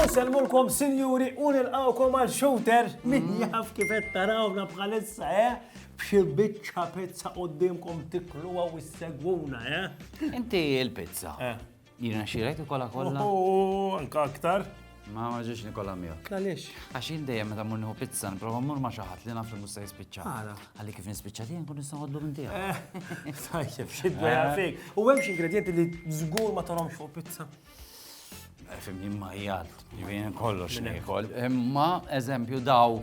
Unselmulkom sinjuri u nilqawkom għal shooter min jaf kif qed tarawna bħalissa, eh? B'xi biċċa pizza qudiemkom tikluha u ssegwuna, eh? Inti l-pizza. Eh. Jirnexxilek ikolla kollha? U anka aktar. Ma ma ġiex nikolla miegħek. Għaliex? Għax jien dejjem meta mmur nieħu pizza nipprova mmur ma' xi ħadd li naf li mhux se jispiċċa. Għala. Għalli kif nispiċċa tiegħi nkun nista' ħodlu minn tiegħek. Eh, tajjeb, xi dwejja eh. fik. U hemm xi ingredjenti li żgur ma tarhomx fuq pizza. Eh, Fimni ma jgħalt, jien kollox nikol. Imma eżempju daw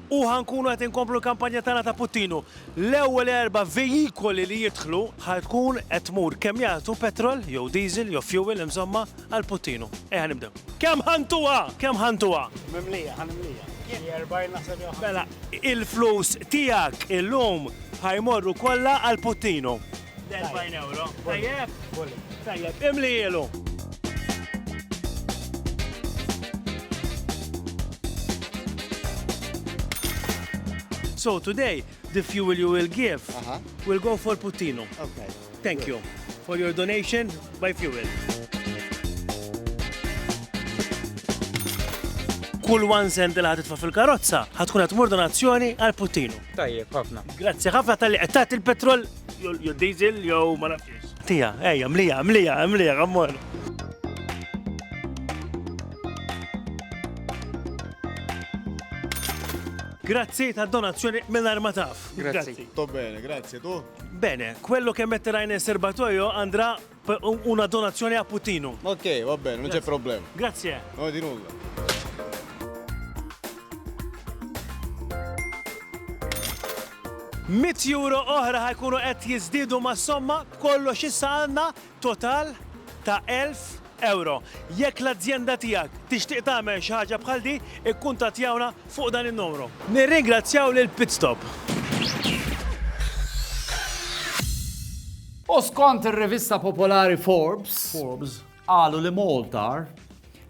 u ħa nkunu qed inkomplu l-kampanja tagħna ta' Puttinu. L-ewwel erba' vejikoli li jidħlu ħa tkun qed tmur kemm jagħtu petrol jew diesel jew fuel insomma għal Puttinu. Ejja nibdew. Kemm ħa ntuha? Kemm ħa ntuha? Mimlija, ħa nimlija. Xi 40 naħseb jew 50. Mela, il-flus tiegħek illum ħa jmorru kollha għal Puttinu. L-40 euro. Tajjeb? Tajjeb, imli jilu. So today, the fuel you will give uh -huh. will go for Putino. Okay. Thank Good. you for your donation by fuel. Kull one cent li ħatitfa fil-karozza ħatkun qed donazzjoni għal Putino. Tajjeb, ħafna. Grazzi ħafna tal-li qed tagħti il-petrol jew diesel jew ma nafx. Tija, ejja, mlija, mlija, mlija, għammor. Grazzi ta' donazzjoni minn arma taf. Grazzi. To bene, grazzi tu. Bene, quello che metterai nel serbatoio andrà Una donazione a Putinu. Ok, va bene, non c'è problema. Grazie. No, di nulla. Mit euro oħra ħajkunu qed jiżdiedu ma' somma b'kollox issa għandna total ta' 1000 euro. Jekk l-azjenda tiegħek tixtieq tagħmel xi ħaġa bħal di, ikkuntattjawna fuq dan in-numru. Nirringrazzjaw lil Pit Stop. U skont ir-rivista popolari Forbes, Forbes, qalu li Maltar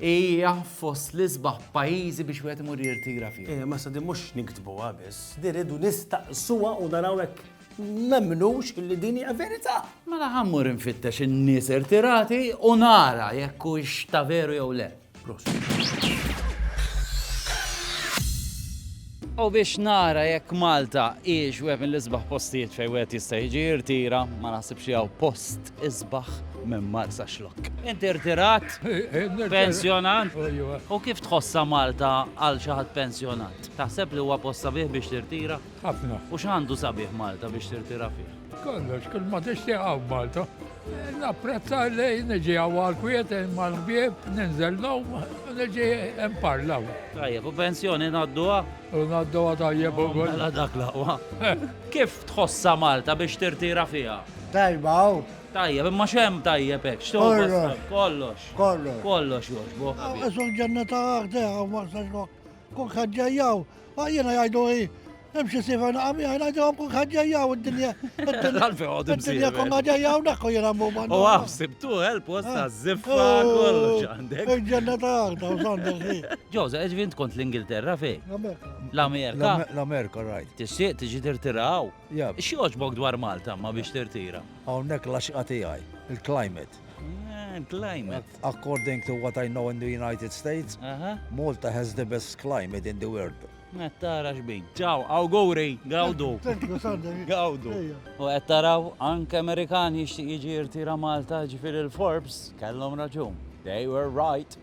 hija fost l-isbaħ pajjiżi biex wieħed imur jirtira fih. Eh, ma sa din mhux niktbuha biss, din irridu nistaqsuha u naraw hekk nemnux li din hija verità. Mela ħa mmur infittex in-nies irtirati u nara jekk hux ta' veru jew le. U biex nara jekk Malta hiex wieħed mill-isbaħ postijiet fejn wieħed jista' jiġi jirtira, ma naħsibx jew post isbaħ minn Marsa Xlok. Inti rtirat, pensjonant, u kif tħossa Malta għal xi ħadd pensjonant? Taħseb li huwa posta bih biex tirtira? Ħafna. U x'għandu sabiħ Malta biex tirtira fih? Kollox, kull ma tixtieq hawn Malta. Napprezza li niġi hawn għal-kwiet mal-bieb, ninżel lhom, niġi hemm parlaw. Tajjeb, u pensjoni ngħadduha? U ngħadduha tajjeb u ukoll. Mela dak laqwa. Kif tħossha Malta biex tirtira fiha? Tajba hawn. Tajjeb, imma x'hemm tajjeb hekk? Kollox. Kollox. Kollox. Kollox jogħġbok. Għax ġennata għaħdeha ma sax Kok ħaġġajjaw, Ma jiena jgħidu hi, hemm xi sifa naqa' miegħi ngħidu hemm kun ħaġġejja u d-dinja. Għalfejn għod Id-dinja kun ħaġġejja u dak u jiena mhum għandu. U għaf sibtu għel post ta' ziffa kollox għandek. Il-ġenna ta' għalta u sandelli. Ġoza, eġvint kont l-Ingilterra fej? L-Amerika. L-Amerika, rajt. Tixtieq tiġi tirtiraw? Xi oġbok dwar Malta ma biex tirtira? Hawnhekk l-għaxqa tiegħi, il-climate. Ah, climate. According to what I know in the United States, uh -huh. Malta has the best climate in the world. Għattara xbin. Ciao, auguri, gawdu. Gawdu. U għattaraw anke Amerikan jixtieq jiġi jirtira Malta ġifir il-Forbes, kellhom raġun. They were right.